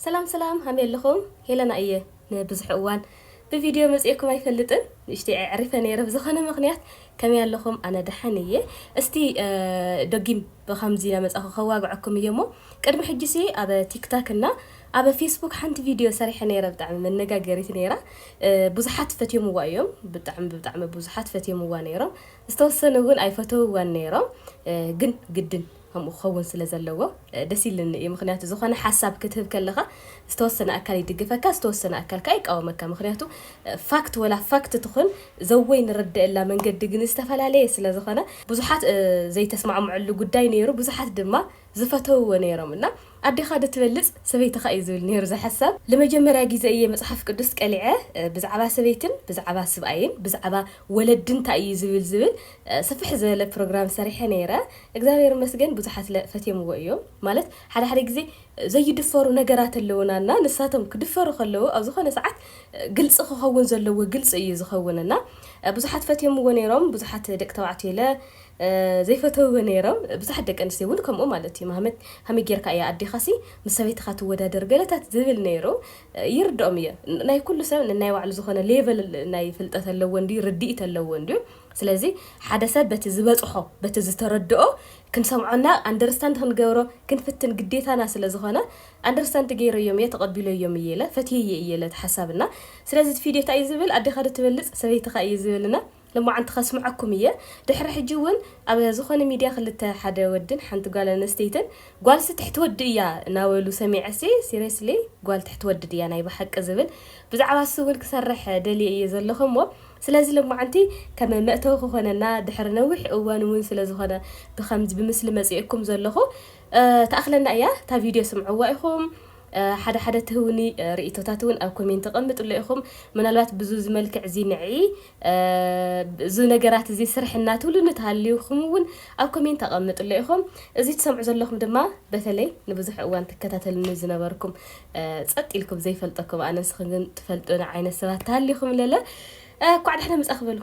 ሰላም ሰላም ሃመይ ኣለኹም ሄለና እየ ንብዝሕ እዋን ብቪድዮ መጺኤኩም ኣይፈልጥን ንእሽተይ ኣዕሪፈ ነይረ ብዝኾነ ምኽንያት ከመይ ኣለኹም ኣነ ደሓን እየ እስቲ ደጊም ብኸምዚ ናመጻኹ ከዋግዐኩም እየ እሞ ቅድሚ ሕጂሲ ኣብ ቲክታክ እና ኣብ ፌስቡክ ሓንቲ ቪድዮ ሰሪሐ ነይረ ብጣዕሚ መነጋገሪት ነይራ ብዙሓት ፈትዮምዋ እዮም ብጣዕሚ ብጣዕሚ ብዙሓት ፈትዮምዋ ነይሮም ዝተወሰኑ እውን ኣይፈተውዋን ነይሮም ግን ግድን ከምኡ ክኸውን ስለ ዘለዎ ደስ ኢልኒ እዩ ምኽንያቱ ዝኾነ ሓሳብ ክትህብ ከለኻ ዝተወሰነ ኣካል ይድግፈካ ዝተወሰነ ኣካል ከኣ ይቃወመካ ምኽንያቱ ፋክት ወላ ፋክት ትኹን ዘወይ ንርደኤላ መንገዲ ግን ዝተፈላለየ ስለ ዝኾነ ብዙሓት ዘይተስማዕምዕሉ ጉዳይ ነይሩ ብዙሓት ድማ ዝፈተውዎ ነይሮም እና ኣዴኻ ዶ ትበልጽ ሰበይትኻ እዩ ዝብል ነይሩ እዚ ሓሳብ ልመጀመርያ ግዜ እየ መጽሓፍ ቅዱስ ቀሊዐ ብዛዕባ ሰበይትን ብዛዕባ ስብኣይን ብዛዕባ ወለዲ እንታይ እዩ ዝብል ዝብል ስፍሕ ዝበለ ፕሮግራም ሰሪሐ ነይረ እግዛብሄር ይመስገን ብዙሓት ስለ ፈትዮምዎ እዮም ማለት ሓደ ሓደ ግዜ ዘይድፈሩ ነገራት ኣለዉና እና ንሳቶም ክድፈሩ ከለዉ ኣብ ዝኾነ ሰዓት ግልጺ ክኸውን ዘለዎ ግልጺ እዩ ዝኸውን እና ብዙሓት ፈትዮምዎ ኔሮም ብዙሓት ደቂ ተባዕትዮ ኢለ ዘይፈተውዎ ኔሮም ብዙሓት ደቂ ኣንስትዮ ውን ከምኡ ማለት እዩ ማህመት ከመይ ጌርካ እያ ኣዴኻ ሲ ምስ ሰበይትኻ ትወዳደር ገለታት ዝብል ኔሩ ይርድኦም እየ ናይ ኩሉ ሰብ ነናይ ባዕሉ ዝኾነ ሌቭል ናይ ፍልጠት ኣለዎ እንድዩ ርድኢት ኣለዎ እንድዩ ስለዚ ሓደ ሰብ በቲ ዝበጽሖ በቲ ዝተረድኦ ክንሰምዖና ኣንደርስታንድ ክንገብሮ ክንፍትን ግዴታና ስለ ዝኾነ ኣንደርስታንድ ገይረዮም እየ ተቐቢለዮም እየ ኢለ ፈትየዬ እየ ኢለ እቲ ሓሳብ እና ስለዚ እቲ ፊድዮ ታይ እዩ ዝብል ኣዴኻ ዶ ትበልጽ ሰበይትኻ እዩ ዝብል እና ሎማዓንቲ ከስምዐኩም እየ ድሕሪ ሕጂ እውን ኣብ ዝኾነ ሚድያ ክልተ ሓደ ወድን ሓንቲ ጓል ኣነስተይትን ጓልሲ ትሕቲ ወዲ እያ ናበሉ ሰሚዐሲ ሲሬስሊ ጓል ትሕቲ ወዲ ድያ ናይ ብሓቂ ዝብል ብዛዕባሲ እውን ክሰርሕ ደልየ እየ ዘለኹ እሞ ስለዚ ሎማዓንቲ ከም መእተዊ ክኾነና ድሕሪ ነዊሕ እዋን ውን ስለ ዝኾነ ብኸምዚ ብምስሊ መጺኤኩም ዘለኹ ትኣኽለና እያ እታ ቪድዮ ስምዕዋ ኢኹም ሓደ ሓደ ትህቡኒ ርኢቶታት ውን ኣብ ኮሜንቲ ቀምጥሎ ኢኹም ምናልባት ብዙዚ መልክዕ እዚ ንዒ እዚ ነገራት እዚ ስርሕና ትብሉ ንትሃልዩኩም ውን ኣብ ኮሜንቲ ኣቀምጥሎ ኢኹም እዚ ትሰምዑ ዘለኹም ድማ በተለይ ንብዙሕ እዋን ትከታተሉኒ ዝነበርኩም ጸጥ ኢልኩም ዘይፈልጠኩም ኣነ ንስኽን ግን ትፈልጡኒ ዓይነት ሰባት ተሃሊኹም ለለ ኳዕ ዳሕና መጻኺ በሉ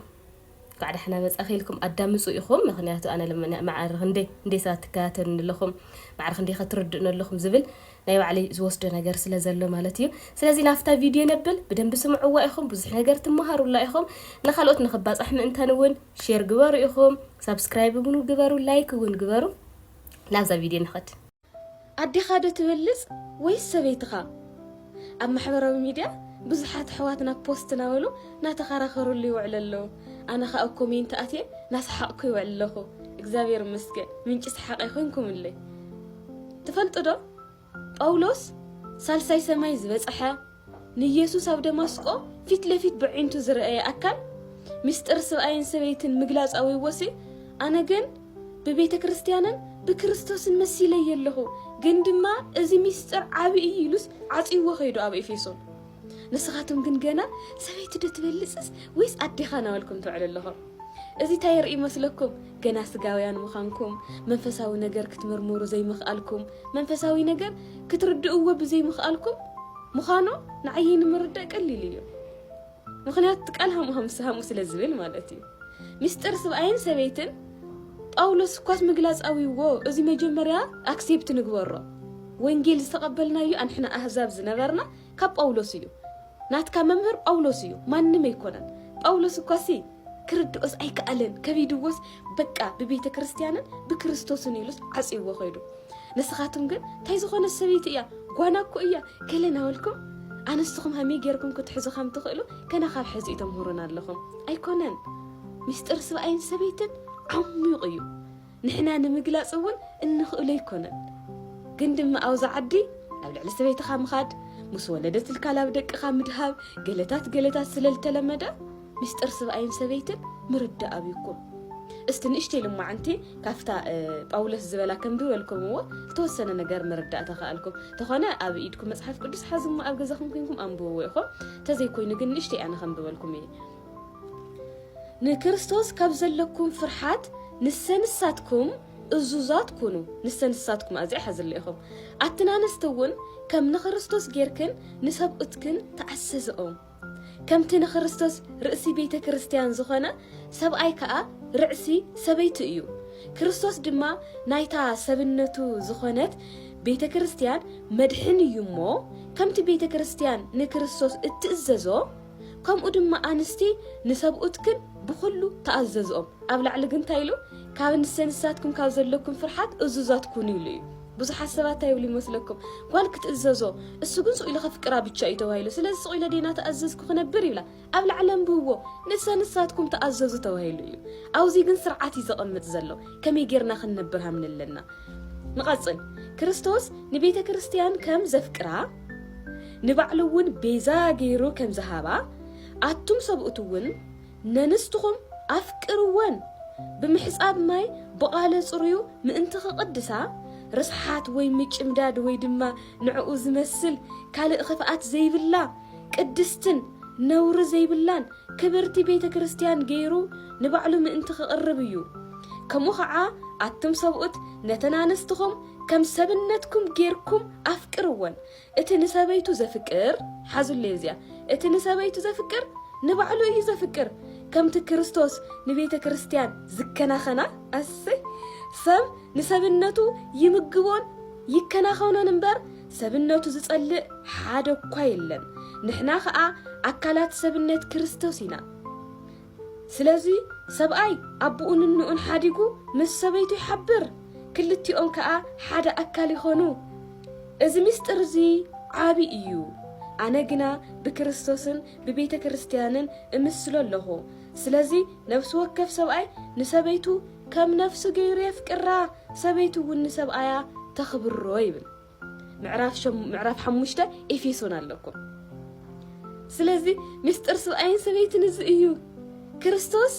ኳዕ ዳሕና መጻኺ ኢልኩም ኣዳምጹ ኢኹም ምኽንያቱ ኣነ ማዕሪ ክንደይ ክንደይ ሰባት ትከታተሉኒ ኣለኹም ማዕሪ ክንደይ ከትርድኡኒ ኣለኹም ዝብል ናይ ባዕለይ ዝወስዶ ነገር ስለ ዘሎ ማለት እዩ ስለዚ ናብታ ቪድዮ ነብል ብደንቢ ስምዕዋ ኢኹም ብዙሕ ነገር ትመሃሩላ ኢኹም ንካልኦት ንክባፃሕ ምእንታን እውን ሼር ግበሩ ኢኹም ሳብስክራይብ እውን ግበሩ ላይክ እውን ግበሩ ናብዛ ቪድዮ ንኸድ ኣዴኻዶ ትበልጽ ወይስ ሰበይትኻ? ኣብ ማሕበራዊ ሚድያ ብዙሓት ኣሕዋትና ፖስት ናበሉ ናተኻራኸሩሉ ይውዕሉ ኣለው ኣነ ኻኣ ኣብ ኮሜንት ኣትየ ናሳሓቕኩ ይውዕል ኣለኹ እግዚኣብሔር ይመስገን ምንጪ ሳሓቐይ ኾይንኩምለይ ትፈልጡዶ ጳውሎስ ሳልሳይ ሰማይ ዝበጽሐ ንየሱስ ኣብ ደማስቆ ፊት ለፊት በዒንቱ ዝረኣየ ኣካል ምስጢር ስብኣይን ሰበይትን ምግላጽ ኣዊዎሲ ኣነ ግን ብቤተ ክርስትያንን ብክርስቶስን መሲለየ ኣለኹ ግን ድማ እዚ ምስጢር ዓቢ እዩ ኢሉስ ዓጽይዎ ከይዱ ኣብ ኤፌሶን ንስኻትም ግን ገና ሰበይቲ ዶ ትበልጽስ ወይስ ኣዴኻ ናበልኩም ትውዕሉ ኣለኹም እዚ እንታይ የርኢ መስለኩም ገና ስጋውያን ምዃንኩም፣ መንፈሳዊ ነገር ክትምርምሩ ዘይምኽኣልኩም፣ መንፈሳዊ ነገር ክትርድእዎ ብዘይምኽኣልኩም ምዃኑ ንዓይ ንምርዳእ ቀሊል እዩ። ምኽንያቱ እቲ ቃል ሃሙ ሃምስ ሃሙ ስለ ዝብል ማለት እዩ። ምስጢር ስብኣይን ሰበይትን ጳውሎስ እኳስ ምግላጽ ኣዊዎ እዚ መጀመርያ ኣክሴፕት ንግበሮ ወንጌል ዝተቐበልናዮ ኣንሕና ኣህዛብ ዝነበርና ካብ ጳውሎስ እዩ ናትካ መምህር ጳውሎስ እዩ ማንም ኣይኮነን ጳውሎስ እኳሲ ክርድኦስ ኣይከኣለን ከቢድዎስ በቃ ብቤተ ክርስቲያንን ብክርስቶስን ኢሉስ ዓጽይዎ ከይዱ ንስኻትኩም ግን እንታይ ዝኾነ ሰበይቲ እያ ጓና እኮ እያ ገለ ናበልኩም ኣነስኹም ሃመይ ጌርኩም ክትሕዙ ከም ትኽእሉ ገና ካብ ሕዚ እዩ ተምህሩና ኣለኹም ኣይኮነን ምስጢር ስብኣይን ሰበይትን ዓሚቑ እዩ ንሕና ንምግላጽ እውን እንኽእሎ ኣይኮነን ግን ድማ ኣውዚ ዓዲ ናብ ልዕሊ ሰበይትኻ ምኻድ ምስ ወለደትልካ ላብ ደቅኻ ምድሃብ ገለታት ገለታት ስለ ልተለመደ ምስጢር ስብኣይን ሰበይትን ምርዳእ ኣብዩኩም እስቲ ንእሽተይ ልማዓንቲ ካብታ ጳውሎስ ዝበላ ከምድበልኩምዎ ዝተወሰነ ነገር ምርዳእ ተኸኣልኩም ተኾነ ኣብ ኢድኩም መፅሓፍ ቅዱስ ሓዝሞ ኣብ ገዛኹም ኮንኩም ኣንብብዎ ኢኹም ተዘይኮይኑ ግን ንእሽተይ ኣነ ከምድበልኩም እየ ንክርስቶስ ካብ ዘለኩም ፍርሓት ንሰ ንሳትኩም እዙዛት ኩኑ ንሰ ንሳትኩም ኣዚኣ ሓዝለ ኢኹም ኣትን ኣንስቲ እውን ከም ንክርስቶስ ጌርክን ንሰብኡትክን ተኣሰዘኦም ከምቲ ንክርስቶስ ርእሲ ቤተ ክርስቲያን ዝኾነ ሰብኣይ ከኣ ርዕሲ ሰበይቱ እዩ ክርስቶስ ድማ ናይታ ሰብነቱ ዝኾነት ቤተ ክርስቲያን መድሕን እዩ እሞ ከምቲ ቤተ ክርስቲያን ንክርስቶስ እትእዘዞ ከምኡ ድማ ኣንስቲ ንሰብኡትክን ብኹሉ ተኣዘዝኦም። ኣብ ላዕሊ ግን እንታይ ኢሉ? ካብ እንሰ ንሳትኩም ካብ ዘለኩም ፍርሓት እዙዛት ኩኑ ኢሉ እዩ። ብዙሓት ሰባት እንታይ ይብሉ ይመስለኩም? ጓል ክትእዘዞ እሱ ግን ስቁኢለ ከፍቅራ ብቻ እዩ ተባሂሉ። ስለዚ ስቁኢለ ዴና ተኣዘዝኩ ክነብር ይብላ። ኣብ ላዕሊ ኣንብብዎ ንሰ ንሳትኩም ተኣዘዙ ተባሂሉ እዩ። ኣብዚ ግን ስርዓት እዩ ዘቐምጥ ዘሎ ከመይ ጌርና ክንነብር ሃምለለና። ንቐጽል ክርስቶስ ንቤተ ክርስቲያን ከም ዘፍቅራ ንባዕሉ እውን ቤዛ ገይሩ ከም ዝሃባ፣ ኣቱም ሰብኡት እውን ነንስትኹም ኣፍቅርወን፣ ብምሕጻብ ማይ ብቓለ ጽሩዩ ምእንቲ ኺቕድሳ፣ ርስሓት ወይ ምጭምዳድ ወይ ድማ ንዕኡ ዚመስል ካልእ ኽፍኣት ዘይብላ፣ ቅድስትን ነውሪ ዘይብላን ክብርቲ ቤተ ክርስትያን ገይሩ ንባዕሉ ምእንቲ ኺቕርብ እዩ። ከምኡ ኸዓ ኣቱም ሰብኡት ነተን ኣንስትኹም ከም ሰብነትኩም ጌርኩም ኣፍቅርወን እቲ ንሰበይቱ ዘፍቅር ሓዙለይ እዚኣ እቲ ንሰበይቱ ዘፍቅር ንባዕሉ እዩ ዘፍቅር ከምቲ ክርስቶስ ንቤተ ክርስቲያን ዝከናኸና ኣሰይ ሰብ ንሰብነቱ ይምግቦን ይከናኸኖን እምበር ሰብነቱ ዝጸልእ ሓደ እኳ የለን ንሕና ኸኣ ኣካላት ሰብነት ክርስቶስ ኢና ስለዚ ሰብኣይ ኣቡኡን እንኡን ሓዲጉ ምስ ሰበይቱ ይሓብር፣ ክልቲኦም ከኣ ሓደ ኣካል ይኾኑ። እዚ ምስጢር እዚ ዓቢ እዩ። ኣነ ግና ብክርስቶስን ብቤተ ክርስትያንን እምስሎ ኣሎኹ። ስለዚ ነፍሲ ወከፍ ሰብኣይ ንሰበይቱ ከም ነፍሱ ገይሩ የፍቅራ፣ ሰበይቱ እውን ንሰብኣያ ተኽብሮ ይብል። ምዕራፍ ሓሙሽተ ኤፌሶን ኣለኩም ስለዚ ምስጢር ስብኣይን ሰበይትን እዚ እዩ ክርስቶስ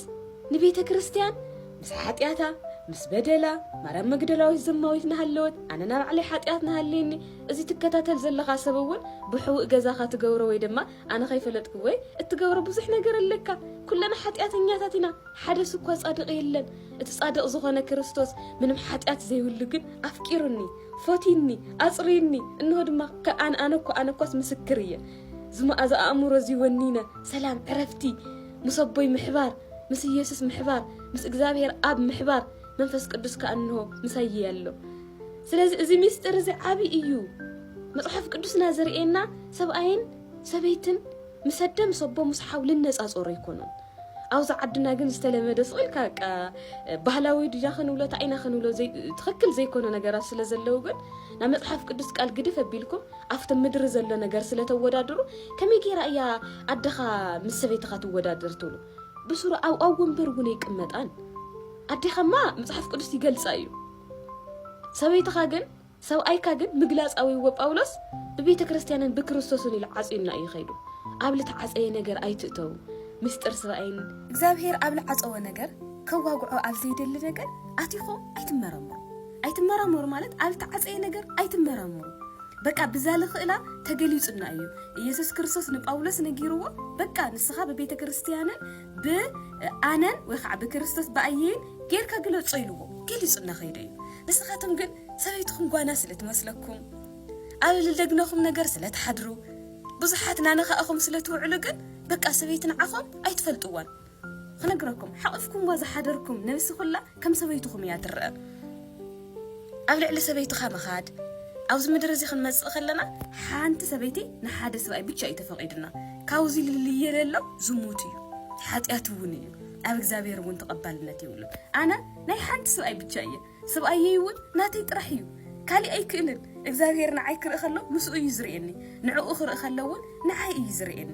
ንቤተ ክርስትያን ምስ ሓጢኣታ ምስ በደላ ማርያም መግደላዊት ዘማዊት ናሃለወት ኣነ ናብ ባዕለይ ሓጢኣት ናሃለየኒ እዚ ትከታተል ዘለኻ ሰብ እውን ብሕውእ ገዛኻ ትገብሮ ወይ ድማ ኣነ ከይፈለጥኩ ወይ እትገብሮ ብዙሕ ነገር ኣለካ ኩለና ሓጢኣተኛታት ኢና ሓደ ስኳ ጻድቕ የለን እቲ ጻድቕ ዝኾነ ክርስቶስ ምንም ሓጢኣት ዘይብሉ ግን ኣፍቂሩኒ ፈትዩኒ፣ ኣጽርዩኒ፣ እንሆ ድማ ከ ኣነ ኣነኳ ኣነኳስ ምስክር እየ። እዚ መኣዛ ኣእምሮ እዚ ወኒነ ሰላም ዕረፍቲ ምስ ኣቦይ ምሕባር፣ ምስ ኢየሱስ ምሕባር፣ ምስ እግዚኣብሔር ኣብ ምሕባር፣ መንፈስ ቅዱስ ከኣ እንሆ ምሳይ እየ ኣሎ። ስለዚ እዚ ምስጢር እዚ ዓቢ እዩ። መጽሓፍ ቅዱስና ዘርእየና ሰብኣይን ሰበይትን ምስ ኣደ ምስ ኣቦ ምስ ሓው ልነጻጸሮ ኣይኮኑን ኣብዚ ዓድና ግን ዝተለመደ ስቕ ኢልካ በቃ ባህላዊ ድያ ክንብሎ እንታይ ኢና ክንብሎ ትኽክል ዘይኮነ ነገራት ስለ ዘለዉ ግን ናብ መጽሓፍ ቅዱስ ቃል ግድፍ ኣቢልኩም ኣብቲ ምድሪ ዘሎ ነገር ስለ ተወዳድሩ ከመይ ገይራ እያ ኣደኻ ምስ ሰበይትኻ ትወዳደር ትብሉ ብስሩ ኣብ ኣብ ወንበር እውን ኣይቅመጣን ኣዴኻማ መጽሓፍ ቅዱስ ይገልጻ እዩ ሰበይትኻ ግን ሰብኣይካ ግን ምግላጻዊ እወ ጳውሎስ ብቤተ ክርስትያንን ብክርስቶስን ኢሉ ዓጽዩና እዩ ከይዱ ኣብ ልተዓጸየ ነገር ኣይትእተዉ ምስጢር ስብኣይን እግዚኣብሔር ኣብ ልዓጸወ ነገር ከዋግዖ ኣብ ዘይደሊ ነገር ኣቲኹም ኣይትመራመሩ ኣይትመራመሩ ማለት ኣብ ልተዓጸየ ነገር ኣይትመራመሩ በቃ ብዛ ልኽእላ ተገሊጹና እዩ ኢየሱስ ክርስቶስ ንጳውሎስ ነጊርዎ በቃ ንስኻ ብቤተ ክርስትያንን ብ ኣነን ወይ ከዓ ብክርስቶስ ብኣየይን ጌርካ ግለጾ ኢልዎ ገሊጹና ከይዱ እዩ ንስኻቶም ግን ሰበይትኹም ጓና ስለ ትመስለኩም፣ ኣብ ልደግነኹም ነገር ስለ ትሓድሩ፣ ብዙሓት ናነኻእኹም ስለ ትውዕሉ ግን በቃ ሰበይቲ ንዓኹም ኣይትፈልጥዋን። ክነግረኩም ሓቚፍኩምዋ ዝሓደርኩም ነብሲ ኩላ ከም ሰበይትኹም እያ ትረኣ። ኣብ ልዕሊ ሰበይትኻ ምኻድ ኣብዚ ምድሪ እዚ ክንመጽእ ከለና ሓንቲ ሰበይቲ ንሓደ ሰብኣይ ብቻ እዩ ተፈቒድና። ካብዚ ልልየ ለሎ ዝሙት እዩ ሓጢኣት እውን እዩ ኣብ እግዚኣብሔር እውን ተቐባልነት የብሉን። ኣነ ናይ ሓንቲ ሰብኣይ ብቻ እየ ስብኣየይ እውን ናተይ ጥራሕ እዩ ካሊእ ኣይክእልን እግዚኣብሄር ንዓይ ክርኢ ከሎ ምስኡ እዩ ዝርእየኒ ንዕኡ ክርኢ ከሎ እውን ንዓይ እዩ ዝርእየኒ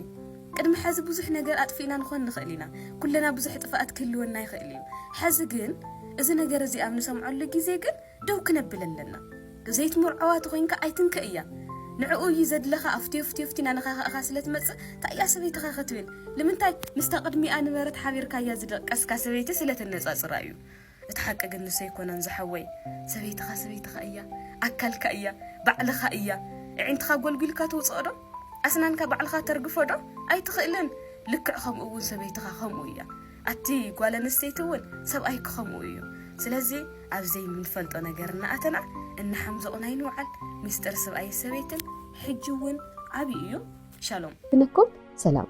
ቅድሚ ሐዚ ብዙሕ ነገር ኣጥፊእና ንኾን ንኽእል ኢና ኩልና ብዙሕ ጥፍኣት ክህልወና ይኽእል እዩ ሐዚ ግን እዚ ነገር እዚ ኣብ ንሰምዐሉ ግዜ ግን ደው ክነብል ኣለና ዘይትምርዐዋ ተኾይንካ ኣይትንከእያ ንዕኡ እዩ ዘድለኻ ኣፍትዮ ፍትዮ ፍቲና ነኻኸእኻ ስለ ትመጽእ ታእያ ሰበይትኻ ክትብል ንምንታይ ምስታ ቅድሚኣ ንበረት ሓቢርካያ ዝደቀስካ ሰበይቲ ስለ ተነጻጽራ እዩ እቲ ሓቂ ግን ንሱ ኣይኮነን ዝሓወይ ሰበይትኻ ሰበይትኻ እያ ኣካልካ እያ ባዕልኻ እያ እዒንትኻ ጎልጉልካ ትውጽኦ ዶ ኣስናንካ ባዕልኻ ተርግፎ ዶ ኣይትኽእልን ልክዕ ከምኡ እውን ሰበይትኻ ከምኡ እያ ኣቲ ጓል ኣንስተይቲ እውን ሰብኣይክ ከምኡ እዩ ስለዚ ኣብ ዘይምንፈልጦ ነገር እናኣተና እናሓምዘቑን ኣይንውዓል ሚስጥር ስብኣይ ሰበይትን ሕጂ እውን ዓብዪ እዩ ሻሎም ብነኮብ ሰላም